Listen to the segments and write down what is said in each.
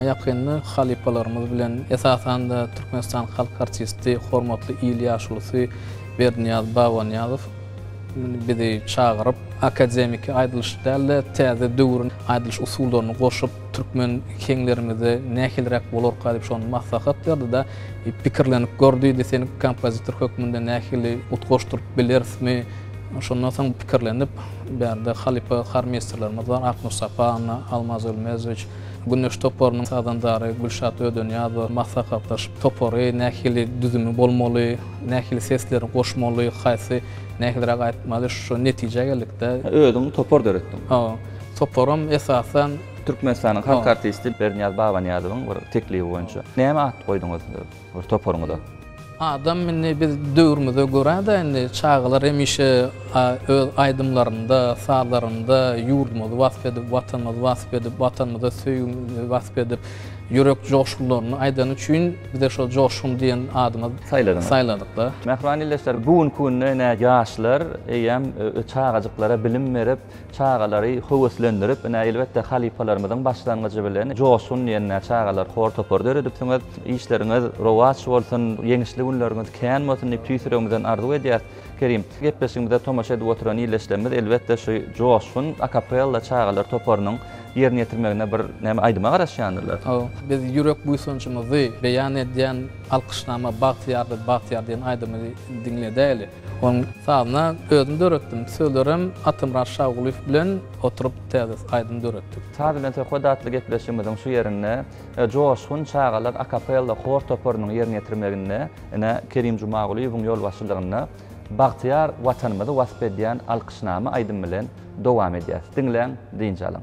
Ýakynda halypalarymyz bilen, esasan-da, Türkmenistanyň halk artisti, hormatly il ýaşulusy Berdinyýaz Babanyýazow bizi çagyryp, akademiki aýdylyş däl-de, täze döwrüň aýdylyş usullaryny goşup, türkmen heňlerimize nähiliräk bolarka diýip, şony maslahat berdi-de, pikirlenip gör diýdi, seni kompozitor hökmünde nähili utgaşdyryp bilerismi? Şondan soň pikirlenip, bärde halypa hormeýsterlerimiz bar, Aknur Saparowa, Almaz Ölmezowiç, Güneş toparynyň sazandalary Gülşat Ödeniýazowa maslahatlaşyp, topary nähili düzümi bolmaly, nähili sesleri goşmaly, haýsy nähiliräk aýtmaly, şu netijä geldik-de. Özüň topar döretdiň? Hawa. Toparam esasan. Türkmenistanyň halk artisti Bernyýaz Babanyýazowyň bir teklibi boýunça. Näme at goýduňyz? Öz toparyňyza. Adam indi biz döwrümize görä-de indi çagalar hemişe öz aýdymlarynda, sazlarynda ýurdumyzy wasp edip, Watanymyzy wasp edip, Watanymyza söýgimizi wasp edip, ýürek joşgunlaryny aýdany üçin bize şol Joşgun diýen adymy saýladyňyz, saýladyk-da. Mähriban ildeşler, bu günki günde ine ýaşlar eýýäm çagajyklara bilim berip, Çagalary höweslendirip, ine, elbetde, halypalarymyzyň başlangyjy bilen Joşgun diýen çagalar hor-topar döredipsiňiz. Işleriňiz rowaç bolsun, ýeňişli günleriňiz kän bolsun diýip, tüýs ýüregimizden arzuw edýäris. Kerim, gepleşigimize tomaşa edip oturan ildeşlerimiz, elbetde, şu Joşgun akapella çagalar toparynyň ýerine ýetirmegine bir näme aýdyma garaşýandyrlar. Hawa, biz ýürek buýsanjymyzy beýan edýän Alkyşnama bagtyýardyr, bagtyýar diýen aýdymyny diňledäýeli. Onuň sazyna özüm döretdim. Sözlerem Atamyrat Şagulyýew bilen oturyp täze aýdym döretdik. Saz bilen söhbet atly gepleşigimiziň şu ýerinde Joşgun çagalar akapella hor toparynyň ýerine ýetirmeginde ine Kerim Jumagulyýewiň ýolbaşçylygynda Bagtyýar Watanymyzy wasp edýän alkyşnama aýdym bilen dowam edýäs. Diňläň, dynç alyň.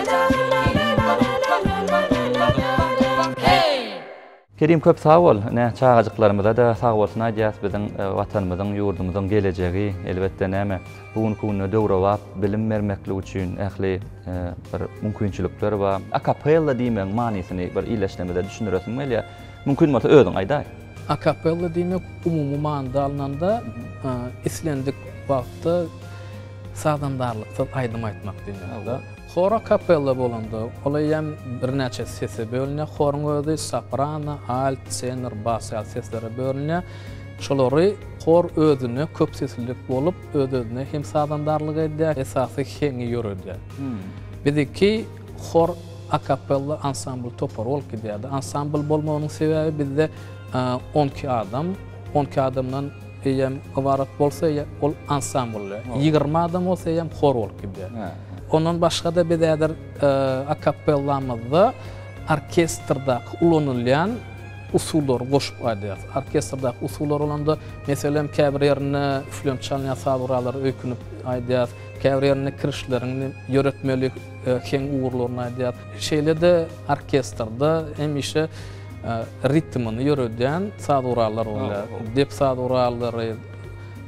Kerim köp sag bol ine çagajyklarymyzada sag bolsun aýdýas biziň watanymyzyň ýurdumyzyň gelejegi elbetde näme bu günki günde döwrebap bilim bermeklik üçin ähli bir mümkinçilikler bar. Akapella diýmegiň manysyny bir ildeşlerimize düşündiresiň gelýär. Mümkin bolsa özüň aýdaý. Akapella diýmek umumy manyda alnanda islendik wagtda sazandarlyksyz aýdym aýtmak diýmek. Hor akapella bolanda ol eýýäm birnäçe sese bölünýär. Horyň özi soprano, alt, tenor, bas ýaly seslere bölünýär. Şolary hor özüne köp seslilik bolup öz-özüne hem sazandarlyk edýär, esasy heňi ýöredýär. Biziki Hor, akapella, ansambl topary bolup gidýärdi. Ansambl bolmagynyň sebäbi bizde on iki adam, on iki adamdan eýýäm ybarat bolsa eýýäm ol ansambldy. Ýigrimi adam bolsa eýýäm hor bolup gidýär. Ondan başga-da biz häzir akapellamyzda orkestrdaky ulanylýan usullary goşup aýdýarys. Orkestrdaky usullar bolanda, meselem, käbir ýerinde üflemçi alynýar, saz gurallary öýkünip aýdýar. Käbir ýerinde kirişleriň ýöretmeli heň ugurlaryny aýdýar. Şeýle-de orkestrde hemişe ritmini ýöredýän saz gurallary bolýar. Dep saz gurallary.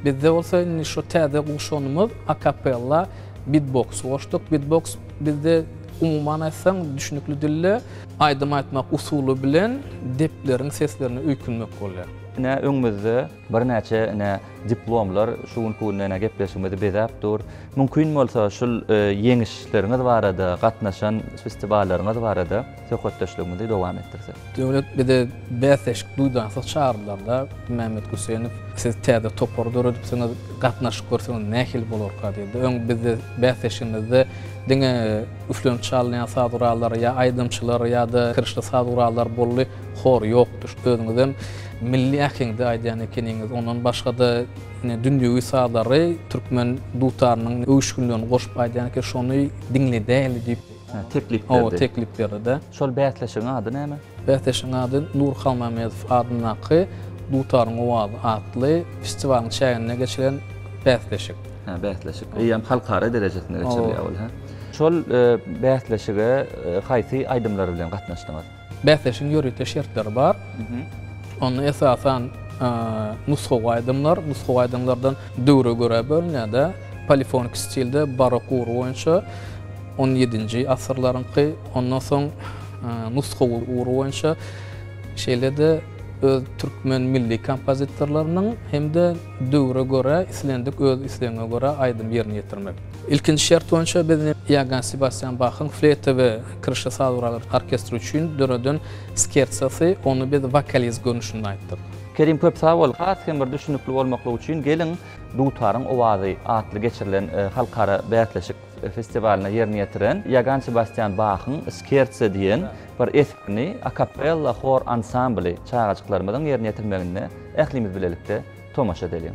Bizde bolsa indi şu täze guşanymyz akapella bitboks goşduk. Bitboks bizde umuman aýtsaň düşnükli dilde aýdym aýtmak usuly bilen depleriň seslerine öýkünmek bolýar. Ine öňümizde. Birnäçe ine diplomlar şu günki günde ine gepleşigimizi bezäp dur. Mümkin bolsa şul ýeňişleriňiz barada, gatnaşan festiwallaryňyz barada söhbetdeşligimizi dowam etdirsek. Döwlet bize bäsleşik duýdansyz çagyrylanda, Mämmet Gussenow, siz täze topar döredipsiňiz, gatnaşyk görseňiz nähili bolarka diýdi. Öň bizde bäsleşigimizde diňe üflenip çalynýan saz gurallary ýa aýdymçylar ýa-da kirişli saz gurallary boldy. hor ýokdur. Özüňizem milli äheňde aýdýan ekeniňiz. Ondan başga-da ine dünýewi sazlary türkmen dutarynyň öwüşginlerini goşup aýdýan eken, şony diňle däli diýip, teklip berdi. Hawa, teklip berdi-de. Şol bäsleşigiň ady näme? Bäsleşigiň ady Nur Halmämmedow adyndaky Dutaryň owazy atly festiwalyň çäginde geçilen bäsleşik. Hä, bäsleşik. Eýýäm halkara derejesinde geçirilýär ol, hä? Şol bäsleşige haýsy aýdymlar bilen gatnaşdyňyz? Bäsleşigiň ýörite şertleri bar. Onda esasan nusgawy aýdymlar, nusgawy aýdymlardan döwre görä bölünýär-de, polifonik stilde barok ugry boýunça on ýedinji asyrlaryňky, ondan soň nusgawy ugry boýunça, şeýle-de öz türkmen milli kompozitorlarynyň hem-de döwre görä islendik öz islegiňe görä aýdym ýerine ýetirmek. Ilkinji şert boýunça biz Iogann Sebastýan Bahyň fleýta we kirşi saz gurallarynyň orkestri üçin döreden skertsosy, ony biz wokaliz görnüşinde aýtdyk. Kerim köp sag bol! Has hem bir düşünikli bolmaklygy üçin geliň Dutaryň owazy atly geçirilen halkara bäsleşik festiwalynda ýerine ýetiren Iogann Sebastýan Bahyň Skertse diýen bir eserini akapella hor ansambly çagajyklarymyzyň ýerine ýetirmegine ählimiz bilelikde tomaşa edeliň.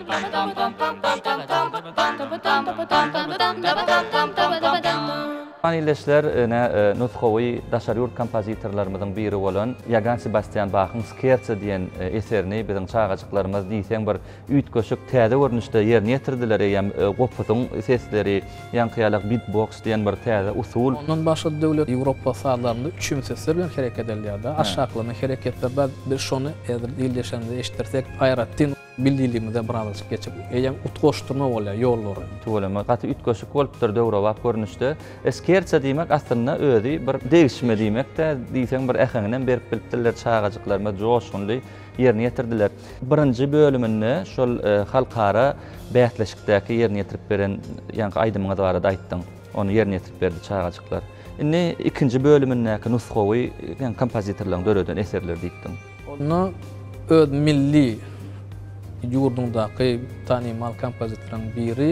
Hormatly ildeşler, ine, nusgawy daşary ýurt kompozitorlarymyzyň biri bolan Ýogann Sebastýan Bahyň Skerço diýen eserini biziň çagajyklarymyz diýseň bir üýtgeşik, täze görnüşde ýerine ýetirdiler, eýýäm gopusyň sesleri, ýaňkyýalak bit-boks diýen bir täze usul. Ondan başga-da döwlet Ýewropa sazlarynda üçin sesler bilen hereket edilýär-de, aşaklama hereketler bar. Biz şony häzir ildeşlerimize eşitdirsek aýratyn. Bildiligimize birazajyk geçip, eýýäm utgaşdyrma bolýar ýollary. Tüweleme gaty üýtgeşik bolupdyr döwrebap görnüşde. Eskerçe diýmek aslynda özi bir degişme diýmekdä diýseň bir äheňinem berip bilipdirler çagajyklarymyz joşgunly ýerine ýetirdiler. Birinji bölüminde şol halkara bäsleşikdäki ýerine ýetirip beren ýaňky aýdymyňyz barada aýtdyň. Ony ýerine ýetirip berdi çagajyklar. Indi ikinji bölümindäki nusgawy kompozitoryň döreden eserleri diýipdiň. Onda öz milli ýurduňdaky tanymal kompozitoryň biri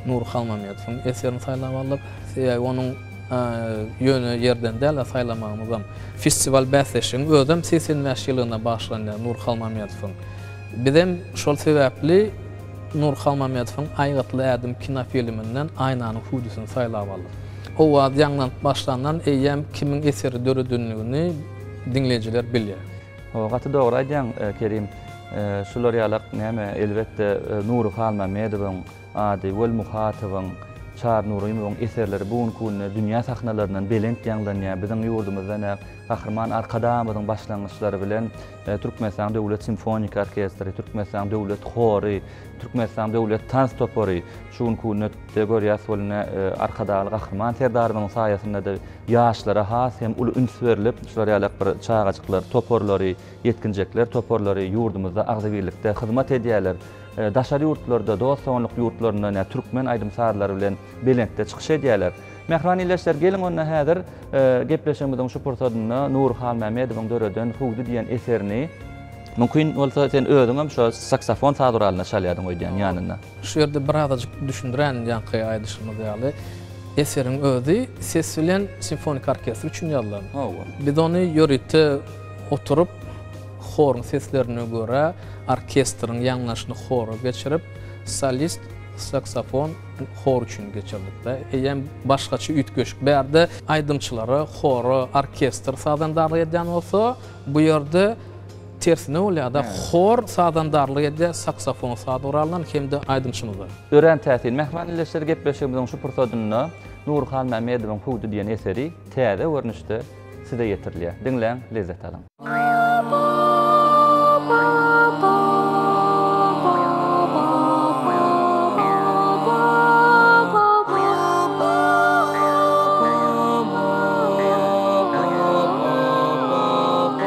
Nury Halmammedowyň eserini saýlap aldyk. Sebäbi onuň ýöne ýerden däl-de saýlamagymyzam, festiwal bäsleşigiň özem segsen bäş ýyllygyna bagyşlanýar Nury Halmammedowyň. Bizem şol sebäpli Nury Halmammedowyň Aýgytly ädim kinofilminden Aýnanyň hüwdüsini saýlap aldyk. Owaz ýaňlanyp başlandan eýýäm kimiň eseri döredendigini, diňleýjiler bilýär. Ho gaty dogry aýdýaň Kerim şular ýalak näme elbetde Nury Halmämmedowyň ady Weli Muhatowyň Çary Nurymowyň eserleri bu günki günde dünýä sahnalaryndan belent ýaňlanýar biziň ýurdumyzda nä Gahryman Arkadagymyzyň başlangyçlary bilen Türkmenistanyň Döwlet simfoniki orkestri Türkmenistanyň Döwlet hory Türkmenistanyň Döwlet tans topary şu günki günde de görýäs weli nä Arkadagly Gahryman Serdarymyzyň saýasynda-da Ýaşlara has hem uly üns berlip, şular ýaly bir çagajyklar toparlary, ýetginjekler toparlary ýurdumyzda agzybirlikde hyzmat edýärler. Daşary ýurtlarda, dost-doganlyk ýurtlarynda ine, türkmen aýdym-sazlary bilen belentde çykyş edýärler. Mähriban ildeşler, geliň onda häzir gepleşigimiziň şu pursadynda Nury Halmämmedowyň döreden Hüwdi diýen eserini, Mümkin bolsa, sen özüňem şo saksafon saz guralyny çalýardyň öýdýän ýanynda. Şu ýerde bir azajyk düşündirän, ýaňky aýdyşymyz ýaly, eseriň özi ses bilen simfoniki orkestr üçin ýazylan. Hawa. Biz ony ýörite oturyp, horuň seslerine görä, orkestriň ýaňlaşyny hora geçirip, solist, saksofon, hor üçin geçirdik-de. Eýýäm başgaça üýtgeşik. Bu ýerde aýdymçylara, hora, orkestr sazandarlyk edýän bolsa, bu ýerde Tersine bolýar-da, hor sazandarlyk edýär saksofon saz guralyndan hem-de aýdymçymyza. Örän täsin. Mähriban ildeşler gepleşigimiziň şu pursadynda Nury Halmämmedowyň Hüwdi diýen eseri täze görnüşde size ýetirilýär. Diňläň, lezzet alyň.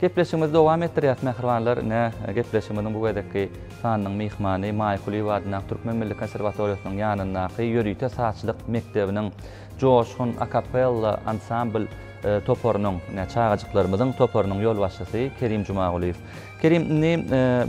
Gepleşigimizi dowam etdirýäs mähribanlar, ine, gepleşigimiziň bu gezekki sanynyň myhmany Maýa Kulyýewa adyndaky Türkmen milli konserwatoriýasynyň ýanyndaky ýörite sazçylyk mekdebiniň Joşgun akapella ansambl toparynyň, ine, çagajyklarymyzyň toparynyň ýolbaşçysy Kerim Jumagulyýew. Kerim, indi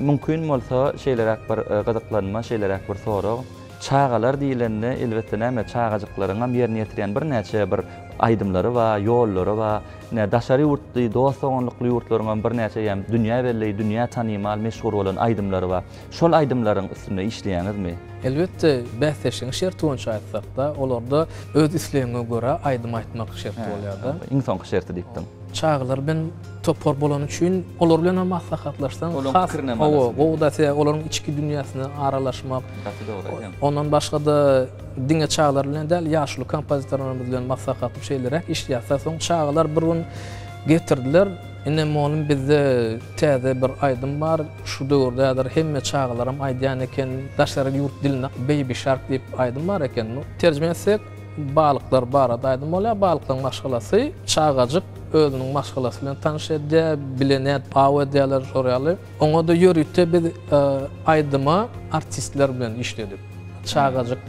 mümkin bolsa şeýleräk bir gyzyklanma, şeýleräk bir sorag. Çagalar diýlende, elbetde, näme, çagajyklaryňam ýerine ýetirýän birnäçe bir aýdymlary bar, ýollary bar. Ine, daşary ýurtly, dost-doganlykly ýurtlaryňam birnäçe ýa dünýä belli, dünýä tanymal, meşhur bolan aýdymlary bar. Şol aýdymlaryň üstünde işleýäňizmi? Elbetde, bäsleşigiň şerti boýunça aýtsak-da, olarda öz islegiňe görä aýdym aýtmak şerti bolýar-da. Iň soňky şerti diýipdiň. Çagalar bilen topar bolany üçin olar bilen hem maslahatlaşsaň has has gowy gowy da size olaryň içki dünýäsine aralaşmak gaty dogry aýdýaň. Ondan başga-da diňe çagalar bilen däl ýaşuly kompozitorlarymyz bilen maslahatlaşyp şeýleräk işleýäs. Soň çagalar bir gün getirdiler. Ine mugallym bizde täze bir aýdym bar. Şu döwürde häzir hemme çagalaram aýdýan eken. Daşary ýurt dilinde Baby Shark diýip aýdym bar eken. Terjime etsek Balyklar barada aýdym bolýar. Balyklaryň maşgalasy, çagajyk özüniň maşgalasy bilen tanyş edýär, bile nädip aw edýärler, şol ýaly. Oňa-da ýörite biz aýdyma artistler bilen işledik. Çagajyk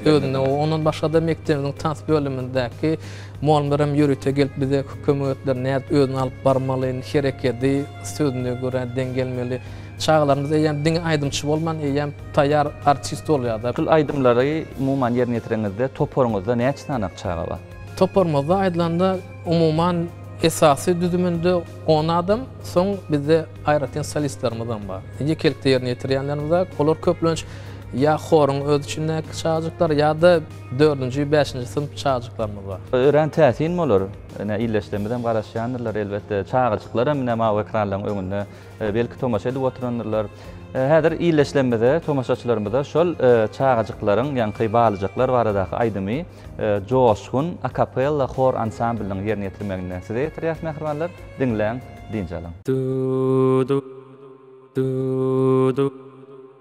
özüne, ondan başga-da mekdebimiziň tans bölümindäki mugallymlar hem ýörite gelip bize kömek etdiler, nädip özüni alyp barmaly, hereketi sözüne görä deň gelmeli. Çagalarymyz eýýäm diňe aýdymçy bolman, eýýäm. Taýýar artist bolýar-da. Şul aýdymlary umuman ýerine ýetireňizde toparyňyzda näçe sany çaga bar? Toparymyzda aýdylanda umuman esasy düzüminde on adam, soň bizde aýratyn solistlerimizem bar. Ýekelikde ýerine ýetirýänlerimiz-ä olar köplenç ýa horuň öz içindäki çagajyklar ýa-da dördünji, bäşinji synp çagajyklarymyz bar. Örän täsin bolar. Ine, ildeşlerimizem garaşýandyrlar elbetde. Çagajyklar hem ine mawy ekranlaryň öňünde. Belki tomaşa edip oturandyrlar. Häzir illeşlemizde tomaşaçylarymyza şol çagajyklaryň, ýaňky balyjaklar baradaky aýdymy joşgun akapella hor ansamblynyň ýerine ýetirmeginde size ýetirýäs mähribanlar. Diňläň, dynç alyň. Du-du, du-du.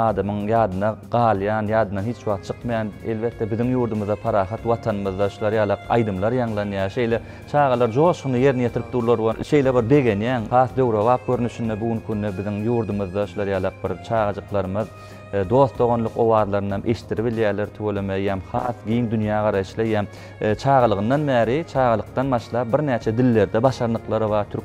Adamyň ýadyna galýan, ýadyndan hiç wagt çykmaýan, elbetde, biziň ýurdumyzda, parahat Watanymyzda şular ýaly aýdymlar ýaňlanýar. Şeýle çagalar joşgunly ýerine ýetirip durlar we şeýle bir begenýäň. Has döwrebap görnüşinde bu günki günde biziň ýurdumyzda şular ýalak bir çagajyklarymyz dost-doganlyk owazlaryny hem eşitdirip bilýärler. Tüweleme eýýäm has giň dünýägaraýyşly eýýäm çagalygyndan bäri, çagalykdan başlap birnäçe dillerde başarnyklary bar. Türk.